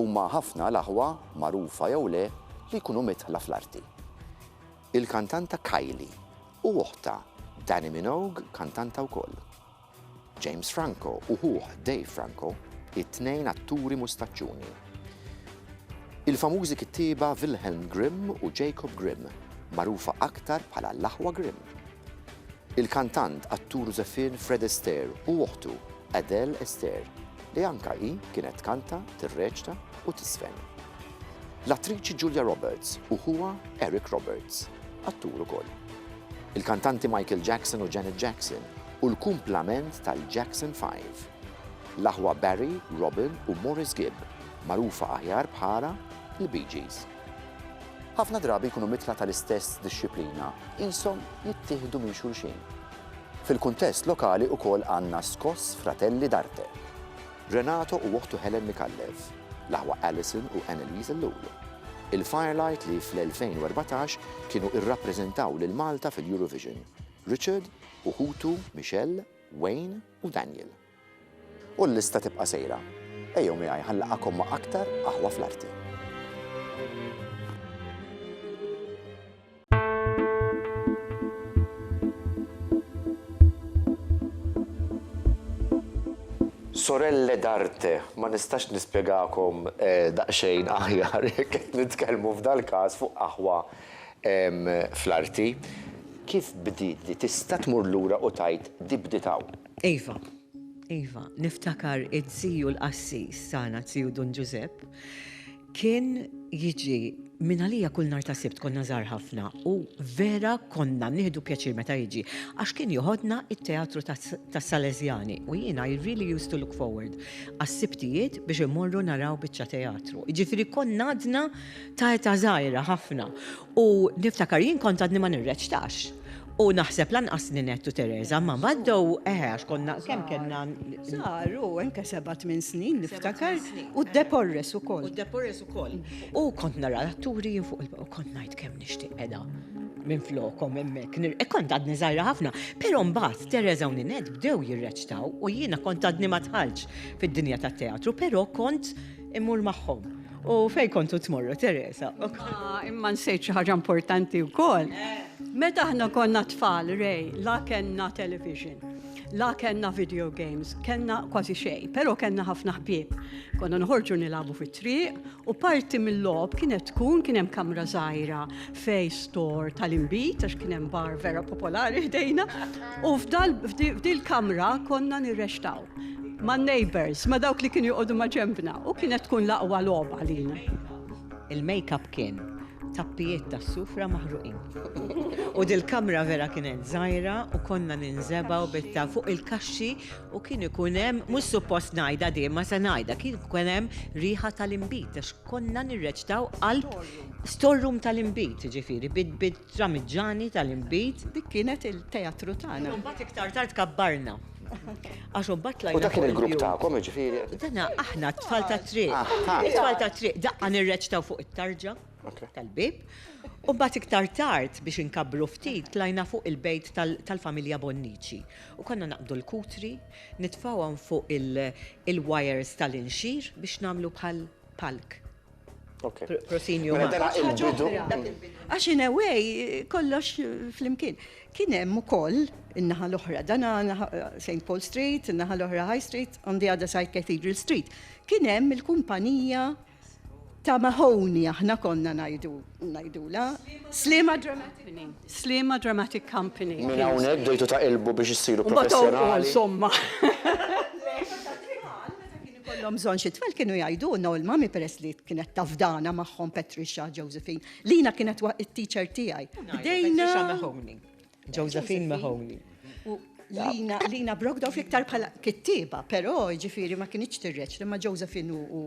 Huma ħafna l-aħwa, magħrufa jew le, li jkunu midħla fl-arti. Il-kantanta Kylie u oħtha Dannii Minogue kantanta wkoll. James Franco u ħuh Dave Franco, it-tnejn atturi mustaċċuni. Il-famużi kittieba Wilhelm Grimm u Jacob Grimm, magħrufa aktar bħala l-aħwa Grimm. Il-kantant, attur u żeffien Fred Astaire u oħtu, Adele Astaire, li anka hi kienet tkanta, tirreċta u tiżfen. L-attriċi Julia Roberts u ħuha Eric Roberts, attur ukoll. Il-kantanti Michael Jackson u Janet Jackson u l-kumplament tal-Jackson Five. L-aħwa Barry, Robin u Maurice Gibb, magħrufa aħjar bħala l-Bee Gees. Ħafna drabi jkunu mitla tal-istess dixxiplina, qishom jittieħdu minn xulxin. Fil-kuntest lokali ukoll għandna Skoss Fratelli d'Arte. Renato u oħtu Helen Micallef, l-aħwa Alison u Anneliese Ellul. Il-Firelight li fl-2014 kienu irrappreżentaw lil Malta fil-Eurovision. Richard u ħutu Michelle, Wayne u Daniel. U l-lista tibqa' sejra. Ejjew miegħi ħa nlaqgħakom ma' aktar Qaħwa fl-Arti. Sorelle d'arte, ma nistax nispjegakom daqsxejn aħjar jekk qed nitkellmu f'dal-każ fuq Qaħwa fl-Arti, kif bdiet di tista' tmur lura u tgħid di bdiet hawn. Iva, iva, niftakar id-ziju l-qassis tagħna ziju Dun Ġużepp kien jiġi minn għalija kull nhar ta' Sibt konna żgħar ħafna u vera konna nieħdu pjaċir meta jiġi għax kien joħodna it-teatru tas-Salesjani u jiena I really used to look forward għas-Sibtijiet biex immorru naraw biċċa teatru. Jiġifieri konna għadna ta' età żgħira ħafna U niftakar jien kont għadni ma nirreċtax. U naħseb lanqas Ninette u Teresa ma għaddew, eħe għax konna kemm kellna żgħar u anke seba' tmien snin niftakar u d-Deporres ukoll. U d-Deporres ukoll. U kont nara l-atturi jien fuq il-palk u kont ngħid kemm nixtieq qiegħda minflokhom hemmhekk. Kont għadni żgħira ħafna. Però mbagħad Teresa u Ninette bdew jirreċtaw u jiena kont għadni ma dħaltx fid-dinja tat-teatru, però kont Immur magħhom. U fejn kontu tmorru, Teresa? Ah, imma nsejt xi ħaġa importanti wkoll. Meta aħna konna tfal, rej, la kellna television, la kellna video games, kellna kważi xej, pero kellna ħafna ħbieb. Konna nħorġu nilabu fit-triq u parti mill-lob kienet tkun kien hemm kamra żgħira fej store tal-inbid, għax kien hemm bar vera popolari ħdejna, u f'dil kamra konna nirrextaw ma' neighbors, ma' dawk li kienu joqogħdu ma' ġembna, u kienet tkun laqwa logħba lina. Il-makeup kien tappijiet ta' sufra maħruqin. U dil-kamra vera kienet żgħira u konna ninżebgħu bitta fuq il-kaxxi u kien ikun hemm mhux suppost ngħidha din ma se ngħidha kien ikun hemm riħa tal-inbid għax konna nirreċtaw qalb Store room tal-inbid, jiġifieri, bit-tramiġġani tal-inbid. Dik kienet il-teatru tagħna. Imbagħad iktar tard kabbarna. Għax imbagħad tlajna. U dak kien il-grupp tagħkom, jiġifieri? Dana aħna t-tfal tat-triq. It-tfal tat-triq daqqa nirreċtaw fuq it-tarġa tal-bieb. U mbagħad iktar tard biex inkabbru ftit tlajna fuq il-bejt tal-familja Bonnici. U konna naqbdu l-kutri, nitfgħuhom fuq il-wires tal-inxir biex nagħmlu bħal palk. Prosinju ma. Għax in a way kollox flimkien. Kien hemm ukoll in-naħa l-oħra, dan St. Paul Street, in-naħa l-oħra High Street, on the other side Cathedral Street. Kien hemm il-kumpanija ta' Mahoney aħna konna ngħidu ngħidula. Sliema Dramatic Company. Sliema Dramatic Company. Minn hawnhekk bdejtu taqilbu biex issiru professjonali. Insomma. Meta kienu Ikollhom bżonn xi tfal kienu jgħidulna u l-mami peress li kienet tafdana magħhom Patricia Josephine, lina kienet it-teacher tiegħi. Bdejna. Josephine Mahoney. Lina, Lina Brogdorf iktar bħala kittiba, però ġifiri ma kienieċ tirreċ li ma Josephine u,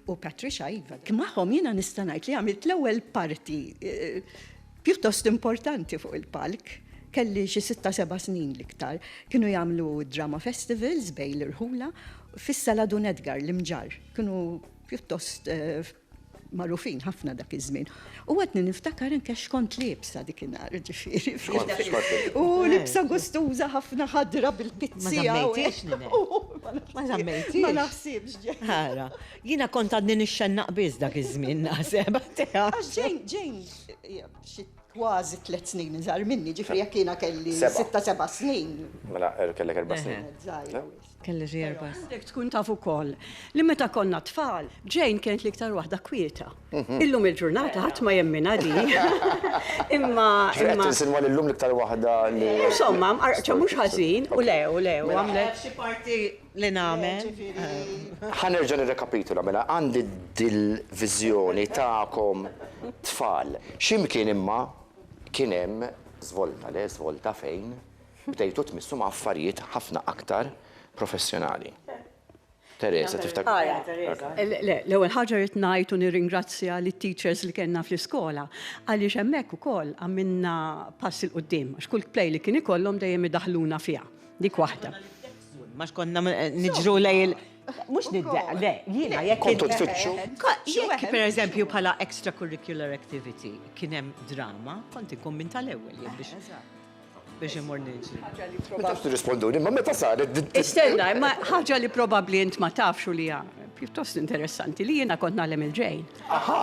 u Patricia Iva. Kmaħom jina nistanajt li għamilt l-ewel parti eh, Pjuttost importanti fuq il-palk, kelli xi sitta seba' snin l-iktar, kienu jagħmlu d-drama festivals bejn l-irħula fis-Sala Dun Edgar, l-Imġarr. Kienu pjuttost magħrufin ħafna dak iż-żmien. U għadni niftakar anke x'kont liebsa dik in-nhar, ġifieri. U libsa gustuża ħafna ħadra bil-pizzi hawn. Ma żammejtix. Ma naħsibx. Ara. Jiena kont għadni nixxennaq biss dak iż-żmien naħseb. Għax ġejn, ġejn. Xi kważi tliet snin iżgħar minni, ġifieri jekk jiena kelli sitta seba' snin. Mela kellek erba' snin. Kelli xi erba' snin. Għandek tkun taf ukoll li meta konna tfal, Jane kienet l-iktar waħda kwieta. Illum il-ġurnata ħadd ma jemminha di. Imma. Ġifieri qed tinsinwa li llum l-iktar waħda li. Insomma, mqarrqċa mhux ħażin u le, u le, u għamlet. Xi parti li nagħmel. Ħa nerġa' nirrekapitula, mela għandi dil-viżjoni tagħkom tfal. Xi mkien imma kien hemm żvolta, le żvolta fejn bdejtu tmissu ma' affarijiet ħafna aktar professjonali. Teresa, tiftakar? Le, l-ewwel ħaġa rrid ngħid u nirringrazzja lit-teachers li kellna fl-iskola għaliex hemmhekk ukoll għamilna pass 'il quddiem għax kull play li kien ikollhom dejjem idaħħluna fiha. Dik waħda. Ma xkonna niġru lej il- Mux niddeq, le, jina jek. Kontu tfittxu. Jek, per eżempju, pala extracurricular activity, kienem drama, konti kun minn tal-ewel, jek biex. Biex imur nġi. Ma tafx tirrisponduni, ma meta saret. Istenna, ma ħagġa li probabli int ma tafx u li pjuttost interessanti li jina kont nagħlem il-ġejn. Aha!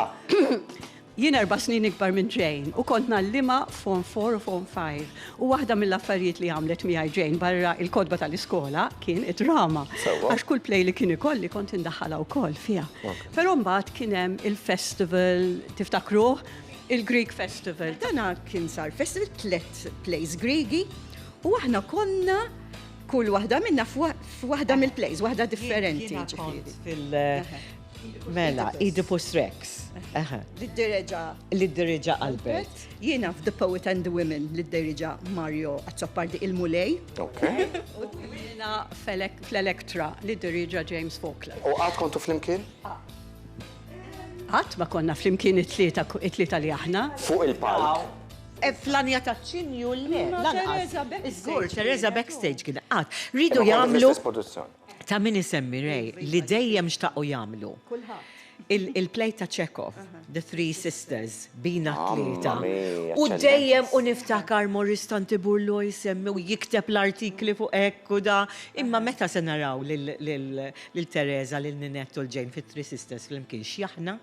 Jien erba' snin ikbar minn Jane u kont ngħallimha f'Form Four u Form Five u waħda mill-affarijiet li għamlet miegħi Jane barra il-kotba tal-iskola kien id-drama. Sewwa. Għax kull play li kien ikolli kont indaħħalha wkoll fiha. Oke. Però mbagħad kien hemm il-festival, tiftakruh? Il-Greek Festival. Dana kien sar festival, tliet plays Griegi u aħna konna kull waħda minna f'waħda mill-plays, waħda differenti ġifieri. Jiena kont fil, Mela, Oedipus Rex. L-iddereġa. L-iddereġa Albert. Jiena f'The Poet and the Women l-iddereġa Mario Azzopardi il-Mulej. Ok. U jiena fl-Elektra l-iddereġa James Faulkner. U għad kontu fl-imkien? Għad ma konna fl-imkien it-tlieta li aħna. Fuq il-palk. E flanja ta' ċinju l-le. Teresa Backstage. Teresa Backstage kien għad. Ridu jamlu. ta' min isemmi Ray li dejjem xtaqu jagħmlu. Il-play ta' Chekhov, The Three Sisters, bina t-tlieta. U dejjem u niftakar Morris Tantiburlo jsemmi u jikteb l-artikli fuq hekk u da. Imma meta se naraw lil Teresa, lil Ninette u l-Jane fit-Three Sisters flimkien x'jaħna?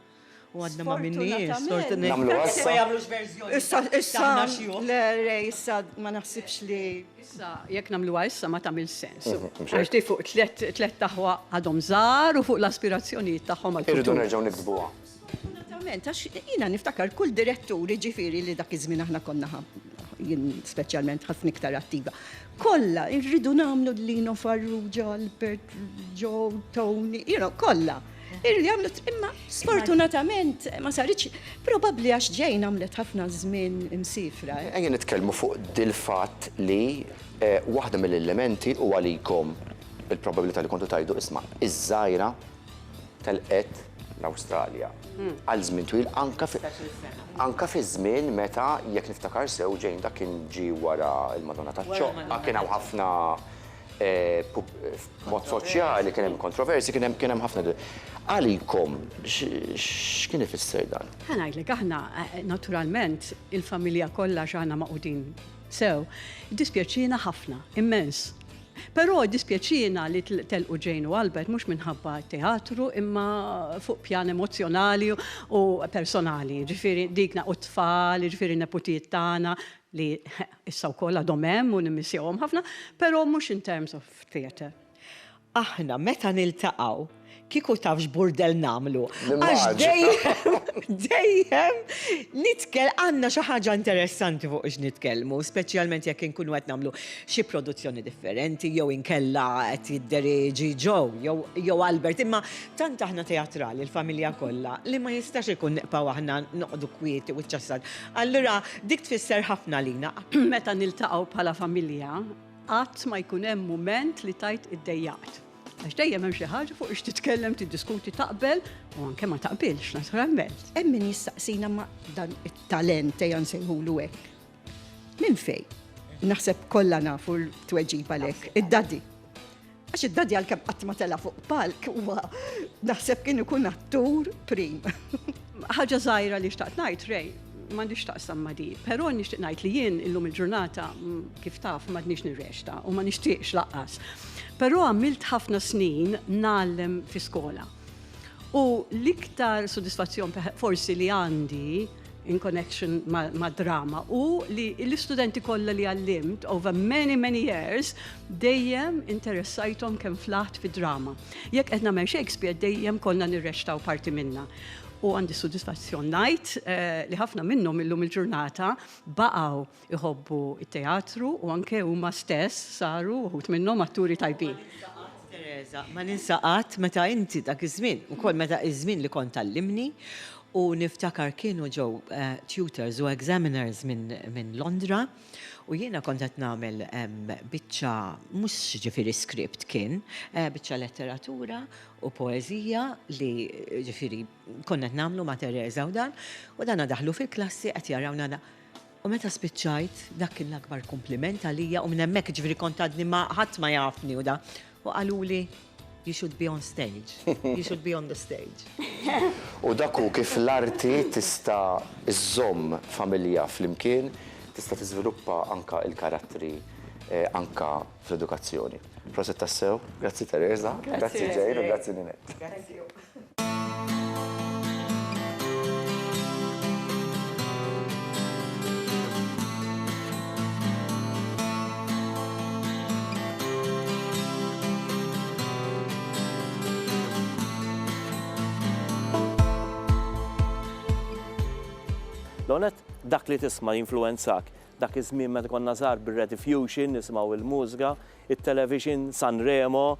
U għadna ma minniex, sfortunatament. Namlu għassa. Issa, issa, le, le, issa, ma naħsibx li. Issa, jek namlu għassa ma tamil sens. Mhm, Għax di fuq tlet taħwa għadhom zar u fuq l-aspirazzjonijiet taħħom għal. Irridu nerġaw nikdbuha. Sfortunatament, għax jina niftakar kull diretturi ġifiri li dak iż-żmien aħna konna jien speċjalment ħafna iktar attiva. Kolla, irridu namlu l-lino farruġa, Albert, Joe, Tony, kolla. Illi għamlet, imma sfortunatament ma saritx, probabbli għax ġejn għamlet ħafna żmien imsifra. Eh. Ejja nitkellmu fuq dil-fatt li eh, waħda mill-elementi u għalikom il-probabilità li kontu tajdu isma' iż-żgħira telqet l-Awstralja. Hmm. Għal żmien twil anka anka fi żmien meta jekk niftakar sew ġejn dak kien ġi wara il-Madonna taċ-ċoqqa kien hawn ħafna F'mod soċjali kien hemm kontroversji, kien hemm kien hemm ħafna di. Għalikom, x'kien ifisser dan? Ħa ngħidlek, aħna naturalment il-familja kollha għax aħna magħqudin sew, iddispjaċiena ħafna, immens. Però iddispjaċiena li telqu Jane u Albert mhux minħabba t-teatru imma fuq pjan emozzjonali u personali, jiġifieri dik u t-tfal, jiġifieri n-neputijiet tagħna li Issa wkoll għadhom hemm u nimmissjahom ħafna, però mhux in terms of theatre. Aħna meta niltaqgħu kieku taf x'burdell nagħmlu. Għax dejjem, dejjem nitkel għandna xi ħaġa interessanti fuq x'nitkellmu, speċjalment jekk inkunu qed nagħmlu xi produzzjoni differenti jew inkella qed jiddereġi Joe jew jew Albert. Imma tant aħna teatrali l-familja kollha li ma jistax ikun nibqgħu aħna noqogħdu kwieti wiċċ għas-saqf. Allura, dik tfisser ħafna għalina. Meta niltaqgħu bħala familja, qatt ma jkun hemm mument li tgħid iddejjaqt. Għax dejjem hemm xi ħaġa fuq x'titkellem, tiddiskuti, taqbel u anke ma taqbilx, naturalment. Hemm min jistaqsina ma dan it-talent ejja nsejħulu hekk. Minn fejn? Naħseb kollha nafu l-tweġiba lek, id-daddy. Għax id-daddy għalkemm qatt ma tela' fuq palk huwa naħseb kien ikun attur prim. Ħaġa żgħira li xtaqt ngħid Ray, m'għandix taqsam ma' di, però nixtieq ngħid li jien illum il-ġurnata kif taf m'għadniex nirrexta u ma nixtieqx laqqas. Però għamilt ħafna snin ngħallem fi skola. U l-iktar sodisfazzjon forsi li għandi in connection ma' drama u li l-istudenti kollha li għallimt over many many years dejjem interessajthom kemm flaħt fi drama. Jekk qed nagħmel Shakespeare dejjem konna nirrextaw parti minna. U għandi sodisfazzjon ngħid eh, li ħafna minnhom illum il-ġurnata baqgħu Iħobbu t-teatru u anke huma stess saru, uħud minnhom, atturi tajbin. Ma ninsa qatt, Tereża, meta inti dak iż-żmien, ukoll meta iż-żmien li kont tgħallimni u niftakar kienu ġew tutors u examiners minn Londra u jiena kont qed nagħmel biċċa, mhux jiġifieri script kien, biċċa letteratura u poeżija li jiġifieri konna qed nagħmlu ma' Tereża u dan, u dana daħlu fil-klassi qed jarawna U meta spiċċajt, dak kien l-akbar kumpliment għalija u minn hemmhekk ġifieri kont għadni ma ħadd ma jafni u da. U qaluli you should be on stage, you should be on the stage. U dak hu kif l-arti tista' żżomm familja flimkien, tista' tiżviluppa anke l-karattri anke fl-edukazzjoni. Proset tassew, grazzi Teresa, grazzi Jane u grazzi Ninette. L-ewwel nett, dak li tisma' jinfluwenzak. Dak iż-żmien meta konna żgħar bir-Rediffusion nisimgħu l-mużga, it-Television, Sanremo,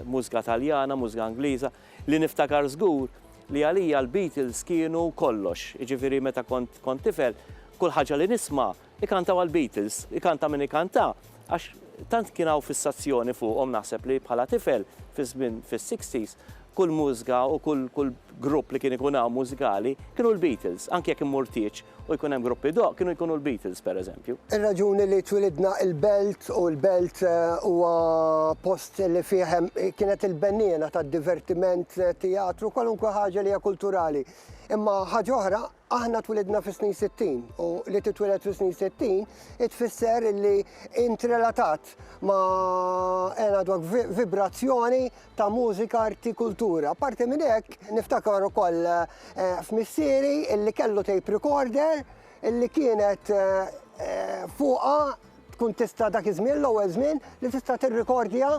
mużika Taljana, mużika Ingliża, li niftakar żgur li għalija l-Beatles kienu kollox, jiġifieri meta kont kont tifel kull ħaġa li nisma' ikantawha l-Beatles, ikanta min ikanta għax tant kien hawn fissazzjoni fuqhom naħseb li bħala tifel fiż-żmien fis-sixties kull mużika u kull kull grupp li kien ikun hawn mużikali kienu l-Beatles anke jekk immur tieġ u jkun hemm gruppi doq kienu jkunu l-Beatles pereżempju. Ir-raġuni li twilidna il-Belt u l-Belt eh, huwa post li fih hemm kienet il-benniena tad-divertiment, eh, teatru, kwalunkwe ħaġa li hija kulturali. Imma ħaġa oħra, aħna twilidna fis-snin 60 u li titwiled fis-snin 60 itfisser li intrelatat ma' għena dwak vibrazzjoni ta' mużika, arti, kultura. Apparti minn hekk, niftakar ukoll eh, f'missieri illi kellu tape recorder illi kienet eh, eh, fuqa tkun tista' dak iż-żmien l-ewwel żmien li tista' tirrikordja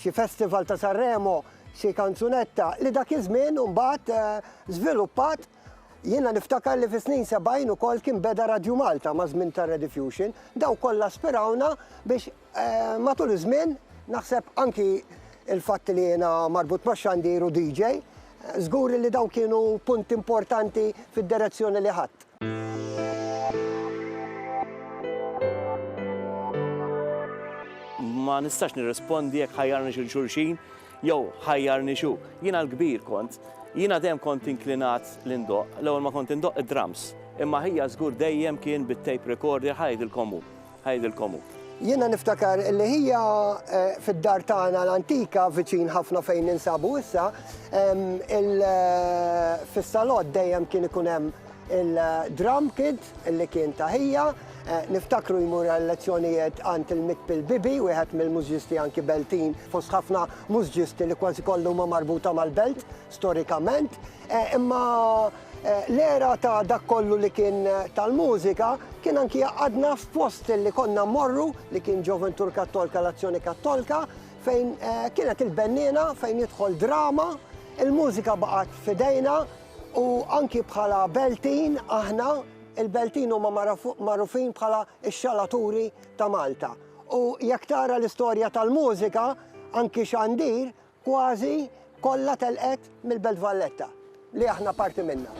xi festival ta' Sanremo xi kanzunetta li dak iż-żmien mbagħad żviluppat Jiena niftakar li fis-snin 70 ukoll kien beda Radju Malta ma' żmien ta' Rediffusion, daw kollha spirawna biex Matul iż-żmien, naħseb anki l-fatt li jiena marbut max-xandir u DJ, żgur li dawn kienu punti importanti fid-direzzjoni li ħadt. Ma nistax nirrispondi jekk ħajjarniex 'il xulxin jew ħajjarni x'hu. Jiena l-kbir kont. Jiena dejjem kont inklinat li ndoqq. L-ewwel ma kont indoqq id-drums, imma ħija żgur dejjem kien bit-tape recorder, ħa jgħidilkom hu. Ngħidilkom hu. Jiena niftakar li hija fid-dar tagħna l-antika viċin ħafna fejn ninsabu issa, fis-salott dejjem kien ikun hemm il-drum kid li kien ta' hija. Niftakru jmur għal-lezzjonijiet għand il-Mikpil Bibi, wieħed mill-mużġisti anki Beltin fost ħafna mużġisti li kważi kollha huma marbuta mal-Belt storikament. Imma l-era ta' dak kollu li kien tal-mużika kien anki jgħaqqadna f'post li konna mmorru li kien Ġoventur Kattolka l-Azzjoni Kattolka fejn kienet il-benniena fejn jidħol drama, il-mużika baqgħet f'idejna u anki bħala Beltin aħna, il-Beltin huma magħrufin bħala x-xalaturi ta' Malta. U jekk tara l-istorja tal-mużika anki Xandir Kważi kollha telqet mill-Belt Valletta, li aħna parti minnha.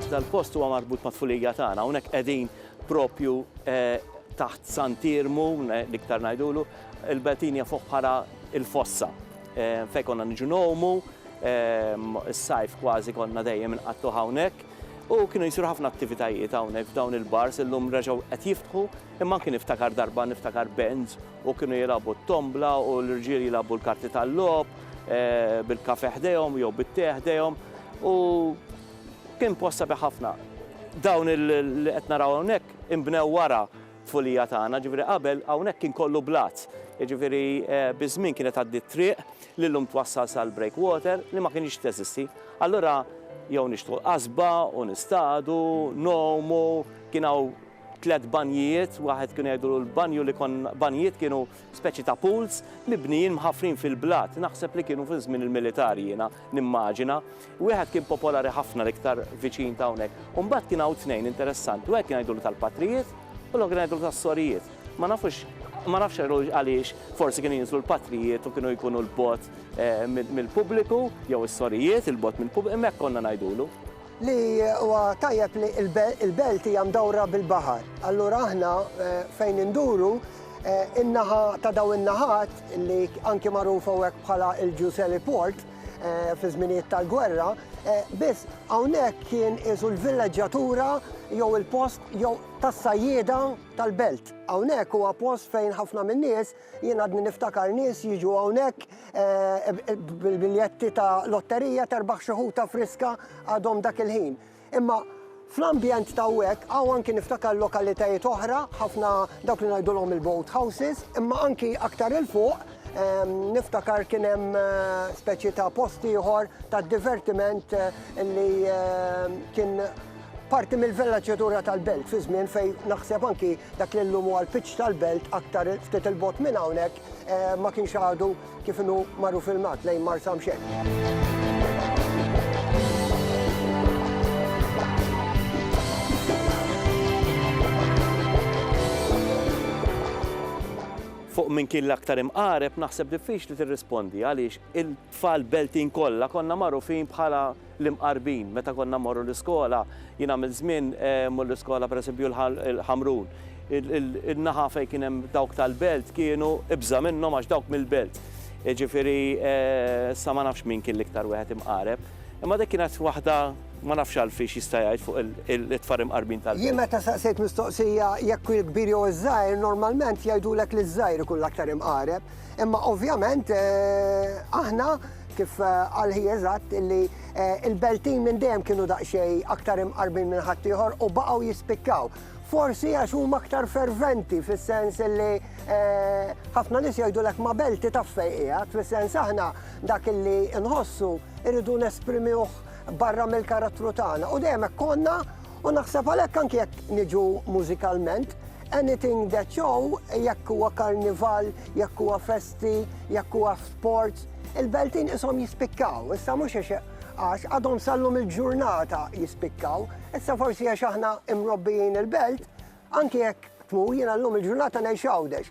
Dal-post huwa marbut mat-tfulija tagħna, hawnhekk qegħdin proprju taħt Sant'Iermu, l-iktar ngħidulu, il-belt hija fuq bħala l-fossa fejn konna niġu ngħumu, is-sajf kważi konna dejjem inqattgħuh hawnhekk. U kienu jsiru ħafna attivitajiet hawnhekk f'dawn il-bars, illum reġgħu qed jiftħu, imma anki niftakar darba niftakar bands u kienu jilagħbu t-tombla u l-irġiel jilagħbu l-karti tal-logħob bil-kafè ħdejhom jew bit-tè ħdejhom u kien post sabiħ ħafna. Dawn li qed naraw hawnhekk inbnew wara t-tfulija tagħna, jiġifieri qabel hawnhekk kien kollu blat, jiġifieri biż-żmien kienet tgħaddi t-triq, li llum twassal sal-breakwater li ma kinitx teżisti. Allura jew nixtħu l-qasba u nistadu, ngħumu, kien hawn tliet banjijiet, waħed kienu jgħidulu l-banju li kon, banjijiet kienu speċi ta' pools mibnijin mħaffrin fil-blat, naħseb li kienu fi żmien il-militar jiena nimmaġina. Wieħed kien popolari ħafna l-iktar viċin ta' hawnhekk. U mbagħad kien hawn tnejn interessanti, wieħed kien jgħidulu tal-patrijiet u l-oħra kien jgħidulu tas-sorijiet. Ma nafux, ma nafx għaliex forsi kienu jinżlu l-patrijiet u kienu jkunu 'l bogħod mill-pubbliku jew is-sorijiet 'il bogħod mill-pubbliku, imma hekk konna ngħidulu. Li huwa tajjeb li l-belt hija mdawra bil-baħar. Allura aħna fejn induru, in-naħa ta' dawn in-naħat li anki magħrufa hawnhekk bħala l-Ġuż Heliport, fi żminijiet tal-gwerra, biss hawnhekk kien isu l-villeġġatura jew il-post jew tas-sajjieda tal-belt. Hawnhekk huwa post fejn ħafna min-nies jien għadni niftakar nies jiġu hawnhekk bil-biljetti ta' lotterija terbaħ xi ħuta friska għadhom dak il-ħin. Imma fl-ambjent ta' hawnhekk hawn anki niftakar lokalitajiet oħra, ħafna dawk li ngħidulhom il-boat houses, imma anki aktar 'il fuq niftakar kien hemm speċi ta' post ieħor ta' divertiment li kien parti mill-vellaċjatura tal-belt fi żmien fejn naħseb anki dak li llum huwa l-pitch tal-belt aktar ftit 'il bogħod minn hawnhekk Ma kienx għadu kif inhu magħruf il-mat lejn Marsa mxew. Fuq min kien l-aktar imqareb naħseb diffiċli tirrispondi għaliex Tfal Beltin kollha konna magħrufin bħala l-Imqarbin meta konna mmorru l-iskola. Jien għamilt żmien mmur l-iskola pereżempju l-Ħamrun. In-naħa fejn kien hemm dawk tal-Belt kienu ibża' minnhom għax dawk mill-Belt. Jiġifieri issa ma nafx min kien l-iktar wieħed imqareb. Imma dik kienet waħda ma nafx Alfie x'jista' jgħid fuq it-tfal imqarbin tal-Belt. Jien meta saqsejt mistoqsija jekk il-kbir jew iż-żgħir, normalment jgħidulek li ż-żgħir ikun l-aktar imqareb. Imma ovvjament aħna kif qal hi eżatt illi il-Beltin minn dejjem kienu daqsxejn aktar imqarbin minn ħaddieħor u baqgħu jispikkaw. Forsi għax huma aktar ferventi fis-sens illi ħafna nies jgħidulek ma' Belti taf fejn qiegħed, fis-sens aħna dak illi nħossu irridu nesprimiwh barra mill-karattru tagħna u dejjem hekk konna U naħseb għalhekk anke jekk niġu mużikalment, anything that show, jekk huwa karnival, jekk huwa festi, jekk huwa sports, il-beltin ishom jispikkaw, issa mhux għax għadhom sallum il-ġurnata jispikkaw, issa forsi għax aħna imrobbijin il-belt, anki jekk tmu jiena llum il-ġurnata ngħix għawdex.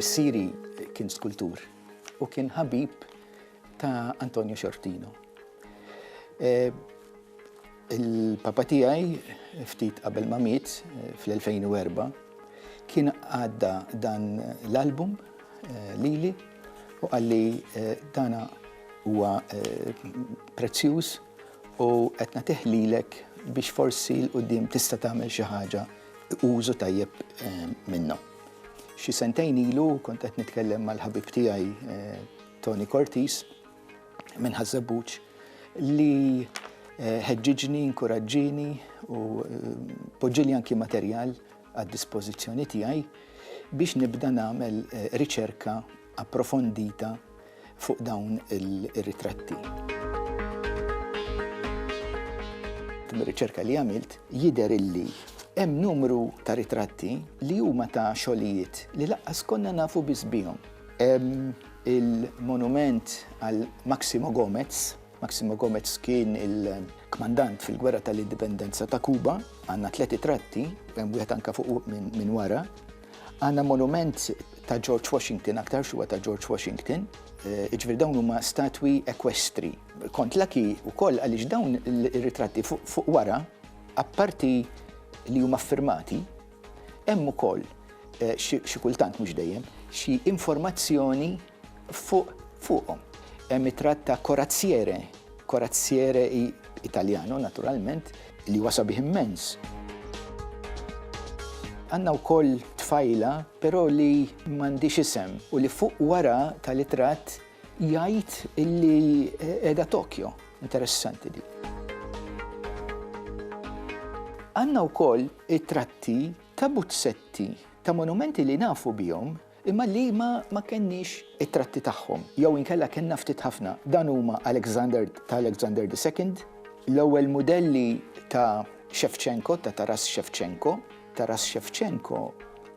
Missieri kien skultur u kien ħabib ta' Antonio Xortino. Eh, il-papa tiegħi ftit qabel ma miet eh, fl-2004 kien għadda dan l-album eh, lili u għalli eh, dana huwa prezzjuż U qed nagħtih lilek biex forsi 'l quddiem tista' tagħmel xi ħaġa użu tajjeb minnhom. Xi sentejn ilu kont qed nitkellem mal-ħabib tiegħi Tony Cortis minn Ħaż-Żebbuġ li ħeġġiġni, inkuraġġieni u poġġieli anki materjal għad-dispożizzjoni tiegħi biex nibda nagħmel riċerka approfondita fuq dawn ir-ritratti. Mir-riċerka li għamilt jidher illi hemm numru ta' ritratti li huma ta' xogħlijiet li laqqas konna nafu biss bihom. Hemm il-monument għal Maximo Gomez. Maximo Gomez kien il-kmandant fil-Gwerra tal-Indipendenza ta' Kuba. Għandna tliet ritratti, hemm wieħed anke fuq minn wara. Għandna monument ta' George Washington, aktarx huwa ta' George Washington, eh, iġvir dawn huma statwi ekwestri. Kont laki wkoll għaliex dawn ir-ritratti fuq wara, apparti li huma firmati, hemm ukoll eh, xi kultant mhux dejjem, xi informazzjoni Fuq fuqhom hemm it-tratt ta' Corazziere, Corazziere Italjano naturalment, li huwa sabiħ immens. Għandna wkoll tfajla, però li m'għandix isem u li fuq wara tal-itrat jgħid illi qiegħda Tokyo. Interessanti di. Għandna wkoll it-tratti ta' buzzetti ta' monumenti li nafu bihom imma li ma ma kenniex it-tratti tagħhom jew inkella kellna ftit ħafna, dan huma Alexander ta' Alexander the Second, l-ewwel mudelli ta' Shevchenko ta' Taras Shevchenko, Taras Shevchenko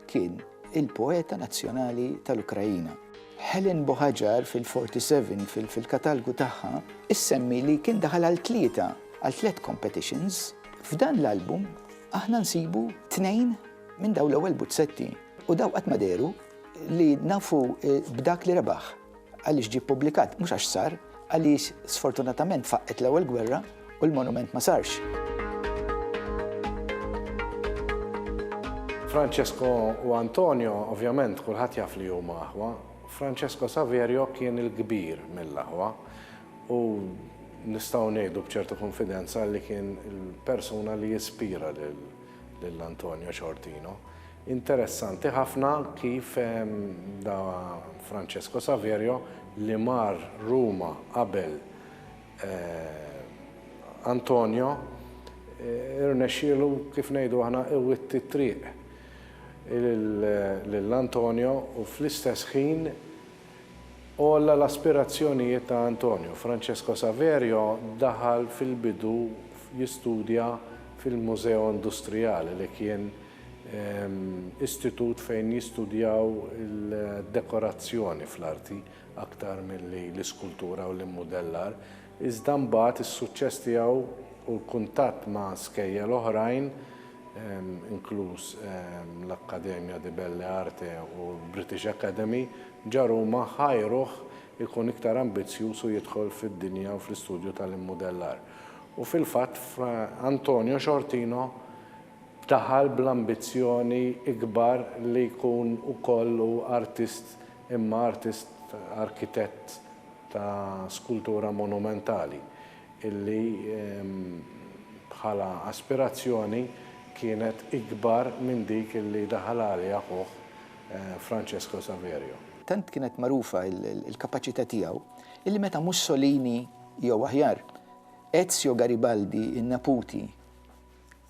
kien il-poeta nazzjonali tal-Ukraina. Helen Bohajar fil-47 fil fil-katalgu tagħha issemmi li kien daħal għal tlieta, għal tliet competitions, f'dan l-album aħna nsibu tnejn Minn daw l-ewwel buzzetti u daw qatt ma dehru li nafu eh, b'dak li rebaħ għaliex ġie ppubblikat mhux għax sar għaliex sfortunatament faqqet l-ewwel gwerra u l-monument ma sarx. Francesco u Antonio, ovvjament, kulħadd jaf li huma aħwa. Francesco Saverio kien il-kbir mill-aħwa u nistgħu ngħidu b'ċertu konfidenza li kien il-persuna li jispira lil lil Antonio Ciortino. Interessanti ħafna kif da Francesco Saverio li mar Ruma qabel Antonio irnexxielu kif ngħidu aħna iwitti t-triq lil Antonio u fl-istess ħin Għolla l-aspirazzjonijiet ta' Antonio, Francesco Saverio daħal fil-bidu jistudja fil-Museo Industriale li kien istitut fejn jistudjaw il-dekorazzjoni fl-arti aktar milli l-iskultura u l-immudellar. iżda mbagħad is-suċċess tiegħu u l-kuntatt ma' skejjel oħrajn, inkluż l-Accademia di Belle Arte u l-British Academy, ġa Ruma, ħajruh ikun iktar ambizzjuż u jidħol fid-dinja u fl-istudju tal-immudellar. U fil-fatt, Antonio Sciortino daħal bl-ambizzjoni ikbar li jkun ukoll hu artist imma artist arkitett. ta' skultura monumentali illi bħala aspirazzjoni kienet ikbar minn dik illi daħal għaliha ħuh Francesco Saverio. Tant kienet magħrufa l-kapaċità tiegħu illi meta Mussolini jew aħjar Ezio Garibaldi, in-neputi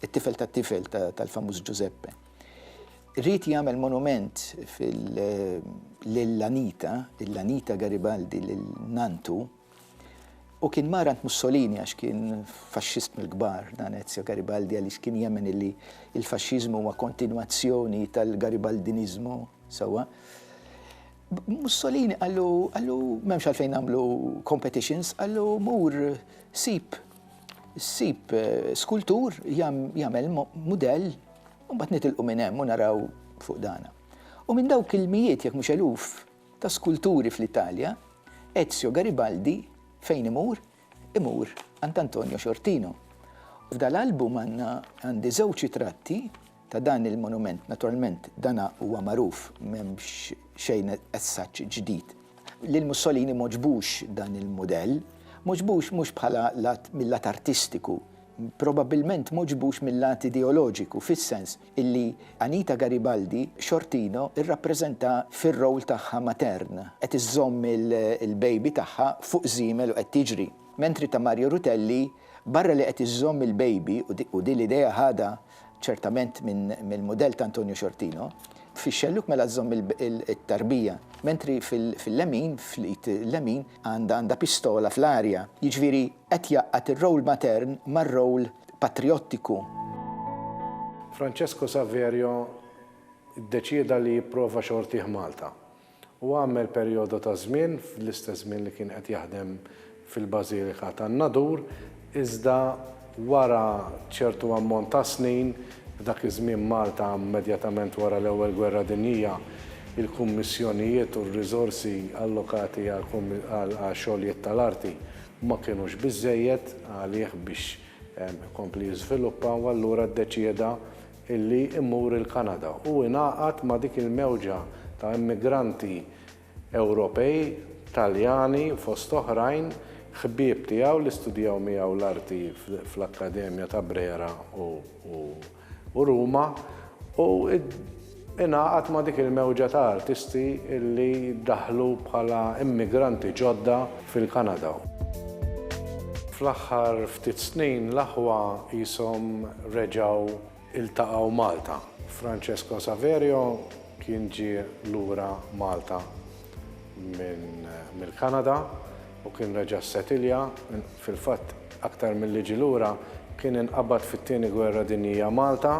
it-tifel tat-tifel tal-famuż Ġużeppe, ried jagħmel monument lil Anita, lil Anita Garibaldi, lil nanntu, u kien mar għand Mussolini għax kien faxxist mill-kbar dan Ezio Garibaldi għaliex kien jemmen illi l-faxxiżmu huwa kontinwazzjoni tal-Garibaldiniżmu sewwa. Mussolini qallu, qallu m'hemmx għalfejn nagħmlu competitions, qallu mur sib Ssib skultur jagħmel mudell u mbagħad nitilqu minn hemm u naraw fuq dana. U minn dawk il-mijiet jekk mhux eluf ta' skulturi fl-Italja, Ezio Garibaldi fejn imur, imur għand Antonio Sciortino. F'dal-album għandna għandi żewġ ritratti ta' dan il-monument. Naturalment dan huwa magħruf m'hemmx xejn as such ġdid. Lil Mussolini m'għoġbux dan il-mudell. M'għoġbux mhux bħala lat mil-lat artistiku. Probabbilment m'għoġbux mil-lat ideoloġiku fis-sens illi Anita Garibaldi xortino rrappreżenta fir-role tagħha matern qed iżżomm il-baby tagħha fuq żiemel u qed tiġri. Mentri ta' Mario Rutelli barra li qed iżżomm il-baby u din l-idea ħadha ċertament mill-mudell ta' Antonio Sciortino, fix-xellug mela żżomm it-tarbija, mentri fil-lemin, fl-id lemin, għandha pistola fl-arja, jiġifieri qed jgħaqqad ir-role matern mar-role patrijottiku. Francesco Saverio ddeċieda li jipprova xortih Malta. u għammel perjodu ta' żmien fl-istess żmien li kien qed jaħdem fil-Bażilika tan-Nadur, iżda wara ċertu ammont ta' snin, f'dak iż-żmien Malta immedjatament wara l-Ewwel Gwerra Dinjija, il-kummissjonijiet u r-riżorsi allokati għax-xogħlijiet tal-arti ma kinux biżżejjed għalih biex ikompli jiżviluppa u allura ddeċieda illi jmur il-Kanada u ingħaqad ma' dik il-mewġa ta' immigranti Ewropej, Taljani fost oħrajn, ħbieb tiegħu li studjaw miegħu l-arti fl-Akkademja ta' Brera u Ruma u ingħaqad ma' dik il-mewġa ta' artisti illi daħlu bħala immigranti ġodda fil-Kanada. Fl-aħħar ftit snin l-aħwa qishom reġgħu ltaqgħu Malta. Francesco Saverio kien ġie lura Malta mill-Kanada u kien reġa' ssetilja, fil-fatt aktar milli ġie lura kien inqabad fit-Tieni Gwerra Dinjija Malta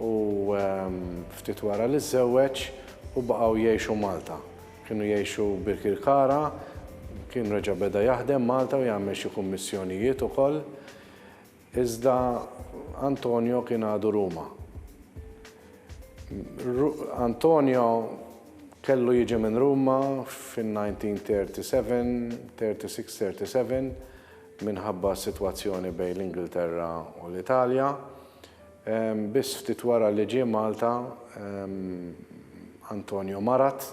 u ftit wara li żżewweġ u baqgħu jgħixu Malta. Kienu jgħixu Birkirkara, kien reġa' beda jaħdem Malta u jagħmel xi kummissjonijiet ukoll, iżda Antonio kien għadu Ruma. Antonio kellu jiġi minn Ruma fin-1937, 36, 37 minħabba s-sitwazzjoni bejn l-Ingilterra u l-Italja. Biss ftit wara li ġie Malta, Antonio marad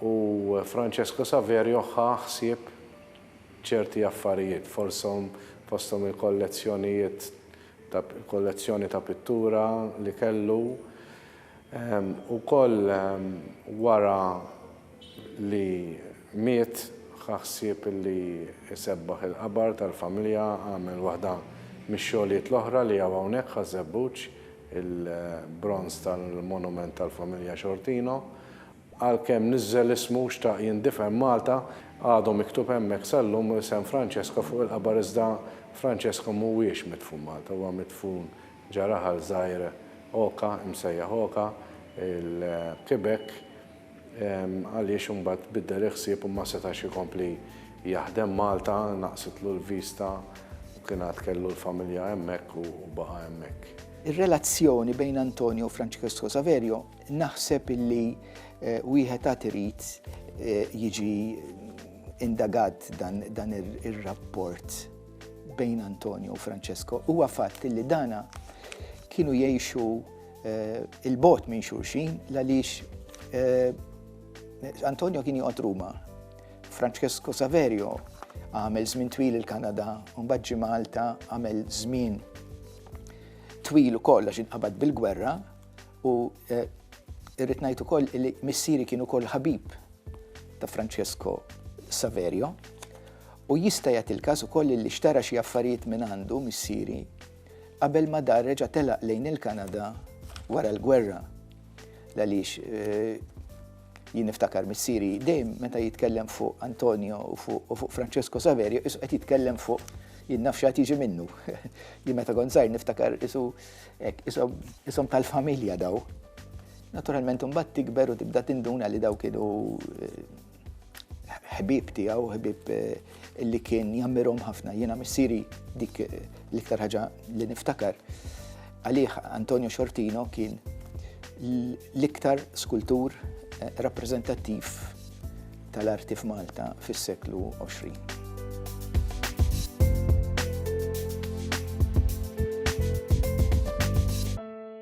u Francesco Saverio ħa ħsieb ċerti affarijiet, forshom fosthom il-kollezzjonijiet ta' kollezzjoni ta' pittura li kellu. Ukoll wara li miet ħa ħsieb li jsebbaħ il-qabar tal-familja, għamel waħda mix-xogħlijiet l-oħra li hawn hawnhekk Ħaż-Żebbuġ, il-bronż tal-monument tal-familja Xortino. Għalkemm niżżel ismu, xtaq jindifen Malta, għadu miktub hemmhekk sal-lum isem Francesco fuq il-qabar iżda Francesco mhuwiex midfun Malta, huwa midfun Ġa raħal żgħir Oka, imsejjaħ Oka, il-Quebec, għaliex imbagħad tbiddel il-ħsieb u ma setax ikompli jaħdem Malta, naqsitlu l-vista u kien għad kellu l-familja hemmhekk u baqa' hemmhekk. Ir-relazzjoni bejn Antonio u Francesco Saverio naħseb illi wieħed għad irid jiġi indagat dan ir-rapport. bejn Antonio u Francesco huwa fatt li dana kienu jgħixu eh, il-bot minn xulxin għaliex eh, Antonio kien joqgħod Ruma. Francesco Saverio għamel żmien twil il-Kanada, mbagħad ġi Malta għamel żmien twil ukoll għax inqabad bil-gwerra u eh, irrid ngħid ukoll li missieri kienu ukoll ħabib ta' Francesco Saverio, u jista' jagħti l-każ ukoll li xtara xi affarijiet mingħandu missieri qabel ma dar reġa' telaq lejn il-Kanada wara l-gwerra. L-għaliex jien niftakar missieri dejjem meta jitkellem fuq Antonio u fuq Francesco Saverio isu qed jitkellem fuq jien naf x'għad jiġi minnu. Jien meta kont żgħir niftakar isu isom tal-familja daw. Naturalment imbagħad tikber u tibda tinduna li daw kienu eh, ħbib tiegħu, ħbib eh, li kien jammirhom ħafna. Jiena missieri dik eh, l-iktar ħaġa li niftakar. Għalih Antonio Xortino kien l-iktar skultur rappreżentattiv tal-arti f'Malta fis-seklu 20.